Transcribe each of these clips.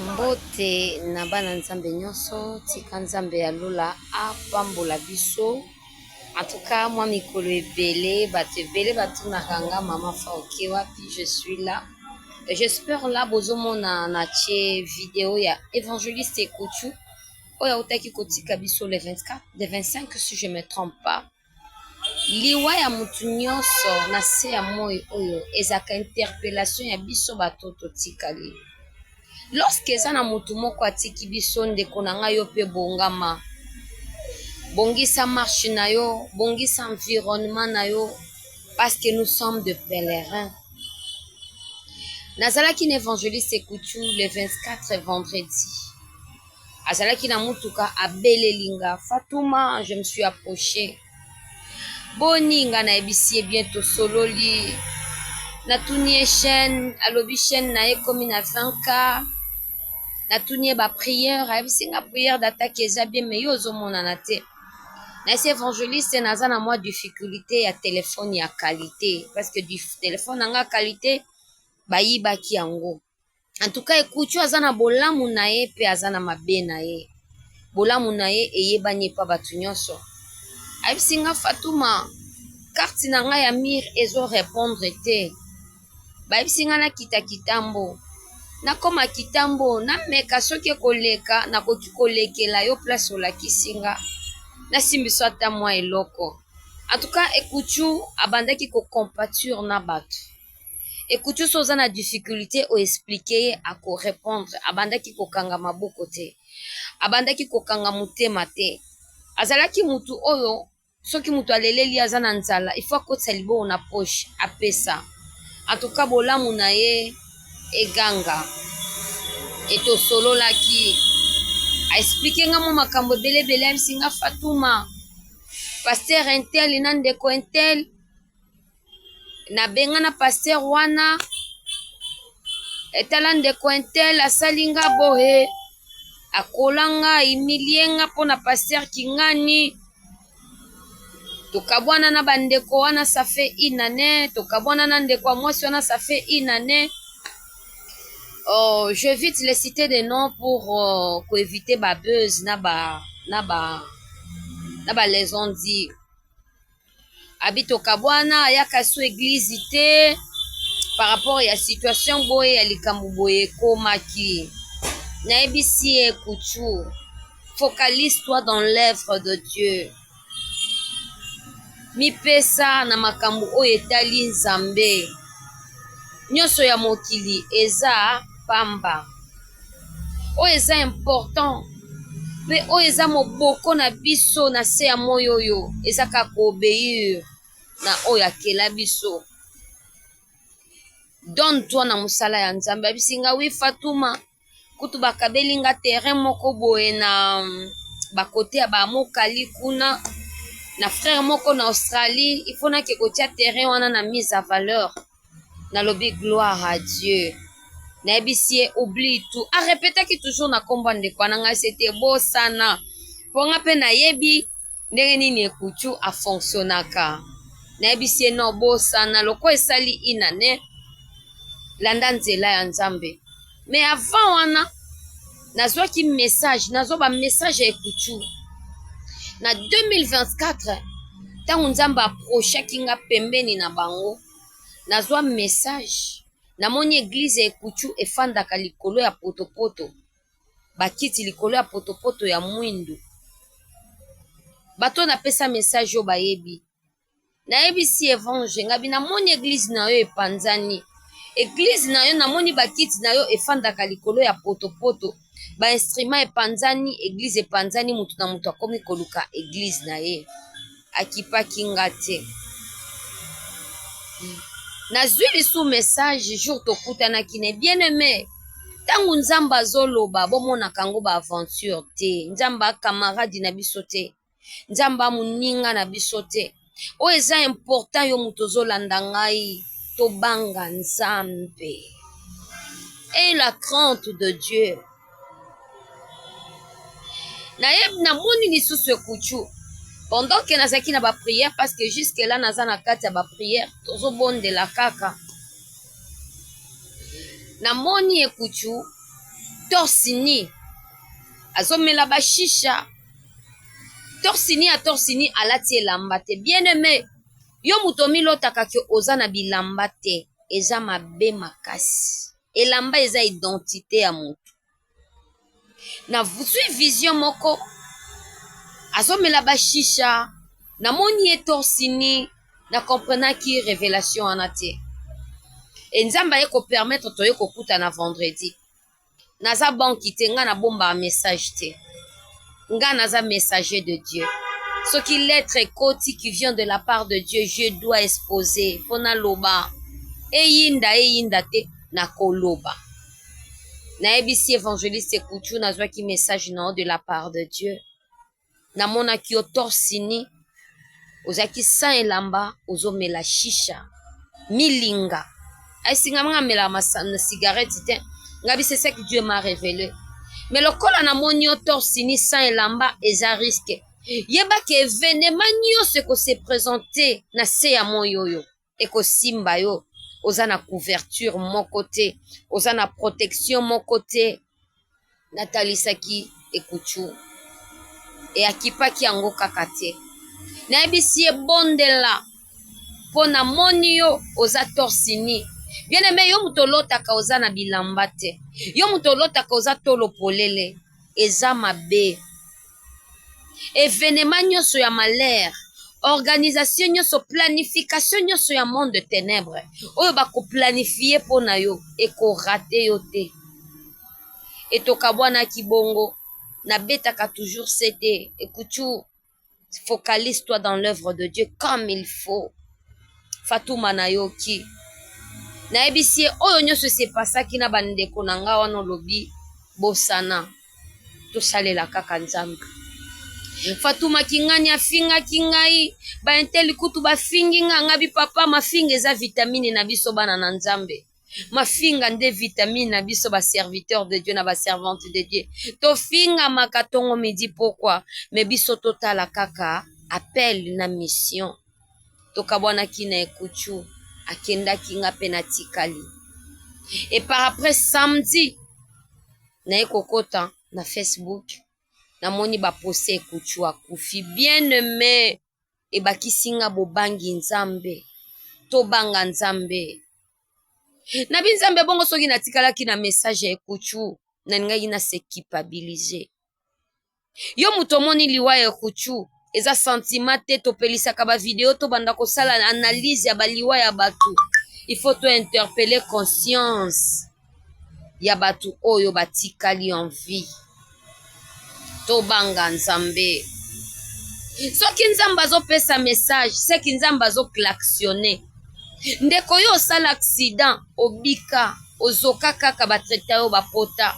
Mbote na bana nzambe nyonso tika nzambe ya lola apambola biso antuka mwa mikolo ebele bato ebele batunaka nga mama fauke wapi je suis là j'espère là bozomona na tie video ya evangeliste ekutu oyo autaki kotika biso le 24 le 25 si je me trompe pas Liwa ya mutu nionso na se ya moyi oyo ezalaka interpellation ya biso batu oyo totikali. Lorsque eza na mutu moko atiki biso ndeko na ngai yo pe bongama, bongisa marche na yo, bongisa environnement na yo parce que nous sommes de pèlerin. Nazalaki na evangeliste Kutu le 24 vendredi azalaki na mutuka abeleli nga fatuma je me suis approche boni nga nayebisi ye bien tosololi natuni ye chaîne alobi chaîne na ye ekomi na 20k natuni ye ba prière ayebisi nga prière d'attaque eza bien mais yo ozomonana te nayesi évangéliste naza na mwa difficulté ya telefone ya qualité parce que telefone na nga qualité bayibaki yango en tout cas ekuchu aza na bolamu na ye mpe aza na mabe na ye bolamu na ye eyebani epa bato nyonso ayebisi nga fatuma karte na ngai ya mire ezo repondre te bayebisi ngai nakita kitambo nakoma kitambo nameka soki ekoleka nakoki kolekela yo place olakisi nga nasimbisa ata mwa eloko en tout cas ekuchu abandaki kocompature na bato ekuti oso oza na difficulté o expliquer ye ako repondre abandaki kokanga maboko te abandaki kokanga motema te azalaki mutu oyo soki mutu aleleli aza na nzala il faut akotisa liboko na poche apesa en tout cas bolamu na ye eganga etosololaki aexplike nga mwa makambo ebele ebele ayebisi nga fatuma pasteur intel na ndeko intel na benga na pasteur wana etala ndeko intel asali nga boye akola nga imilie nga mpo na pasteur kingani tokabwana na bandeko wana ça fait une année tokabwana na ndeko ya mwasi wana ça fait une année oh, j'évite les citer des noms pour euh, koeviter ba buzz na ba na ba na ba les on dit abi tokabwana ayaka su eglise te par rapport ya situation boye ya likambo boye ekomaki nayebisi ye kuchu focalise toi dans l'œuvre de dieu mipesa na makambo oyo etali nzambe nyonso ya mokili eza pamba oyo eza important mpe oyo eza moboko na biso na se ya moi oyo eza kaka koobeire na oyo akela biso don toi na mosala ya nzambe abisi nga wi fatuma kutu bakabeli nga terrain moko boye na bakote ya bamokali kuna na frere moko na australie ifonaki kotia terrain wana na mise a valeur nalobi gloire à Dieu nayebisi ye oublie tout a repetaki toujours na kombo ya ndeko wana ngai sete bosana mpo nga mpe nayebi ndenge nini ekutu afonctionnaka nayebisi ye no bosana lokola esali inane landa nzela ya nzambe Mais avant wana nazwaki message nazwa ba message ya ekutu na 2024 ntango nzambe aprochaki nga pembeni na bango nazwa message namoni eglize ya ekutu efandaka likolo ya potopoto bakiti likolo ya potopoto ya mwindu bato napesa message oyo bayebi nayebisi evange ngabi namoni eglize na yo epanzani eglize na yo namoni bakiti na yo efandaka likolo ya potopoto bainstrument epanzani eglize epanzani motu na moto akomi koluka eglize na ye akipaki nga te nazwi lisu message jour tokutanaki na bien aime ntango nzambe azoloba bomonaka yango baaventure te nzambe akamaradi na biso te nzambe ya moninga na biso te oyo eza important yo moto ozolanda ngai tobanga nzambe e la crante de dieu naye namoni lisusu ekuchu pendant ke nazalaki na baprière parce que jusque là naza na kati ya baprière tozobondela kaka namoni ekuchu torsini azomela bashisha torsini ya torsini alati elamba te bien aime yo moto omilotaka ke oza na bilamba te eza mabe makasi elamba eza identite ya moto na zwi vision moko azomela bashisha namoni ye torsini na comprenaki revelation wana te e nzambe aye kopermettre toye kokutana vendredi naza banki te nga nabombaka message te nga naza messager de dieu soki lettre ekoti qui vient de la part de dieu je dois exposer mpo naloba eyinda eyinda te nakoloba nayebisi evangeliste kutu nazwaki message na yo de la part de dieu na monaki yo torse nu ozalaki sans elamba ozo mela shisha milinga esi nga nga melaka masano cigarette te nga bi c'est ça que Dieu m'a révélé mais lokola na moni yo torse nu sans elamba eza risque yeba que evenement nionso eko se présenter na se ya moyi oyo ekosimba yo oza na couverture moko te oza na protection moko te natalisaki ekutu eyakipaki yango kaka te nayebisi ye bondela mpo namoni yo oza torsini bien aime yo moto olotaka oza na bilamba te yo moto olotaka oza tolo polele eza mabe evenema nyonso ya malheur organisation nyonso planification nyonso ya monde de ténèbres oyo bakoplanifie mpo na yo ekorate yo te etokabwanaki bongo nabetaka toujours sete ekutu focalise toi dans l'œuvre de dieu comme il faut fatuma nayoki nayebisi ye oyo nyonso esepasaki na bandeko na ngai wana olobi bosana tosalela kaka nzambe fatuma kingani afingaki ngai bainteli kutu bafingi nga ngabi papa mafinga eza vitamine na biso bana na nzambe mafinga nde vitamine na biso baserviteur de dieu na baservante de dieu tofingamaka tongo midi pokwa me biso totala kaka appel na mission tokabwanaki na ekuchu akendaki nga mpe natikali et par après samedi naye kokota na Facebook namoni ba poste kutshu akufi bien aime ebakisi nga bobangi nzambe tobanga nzambe na bi nzambe bongo soki natikalaki na message ya ekutshu nalingaki na se kipabilise yo moto omoni liwa ya kuchu eza santima te topelisaka bavideo tobanda kosala analyse ya baliwa ya bato il faut to interpele conscience ya bato oyo batikali en vie tobanga nzambe soki nzambe azopesa message seki nzambe azoklaksione ndeko yo osala accident obika ozoka kaka batraita yo bapota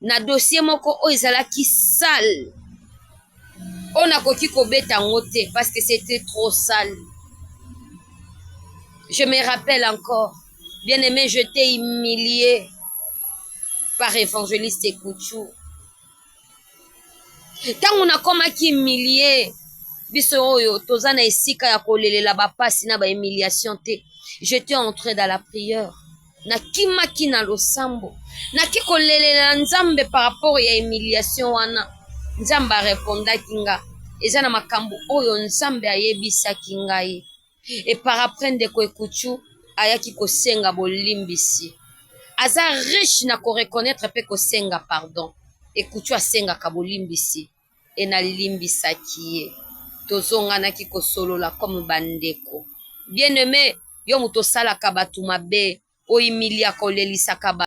na dossier moko oyo ezalaki sale oyo nakoki kobeta yango te parce que c'était trop sale je me rappelle encore bien aimé je t'ai humilié par évangéliste ekuchou ntango nakomaki humilie biso oyo toza na esika ya kolelela bapasi na bahumiliation te j'étais entré dans la prière nakimaki na losambo naki kolelela nzambe par rapport ya humiliation wana nzambe arepondaki nga eza na makambo oyo nzambe ayebisaki ngai e par après ndeko ekuchu ayaki kosenga bolimbisi aza riche na koreconnaitre mpe kosenga pardon ekuchu asengaka bolimbisi et na limbisaki ye tozonganaki kosolola comme ba ndeko. Bien aime yo mutu osalaka batu mabe o humiliaka olelisaka batu.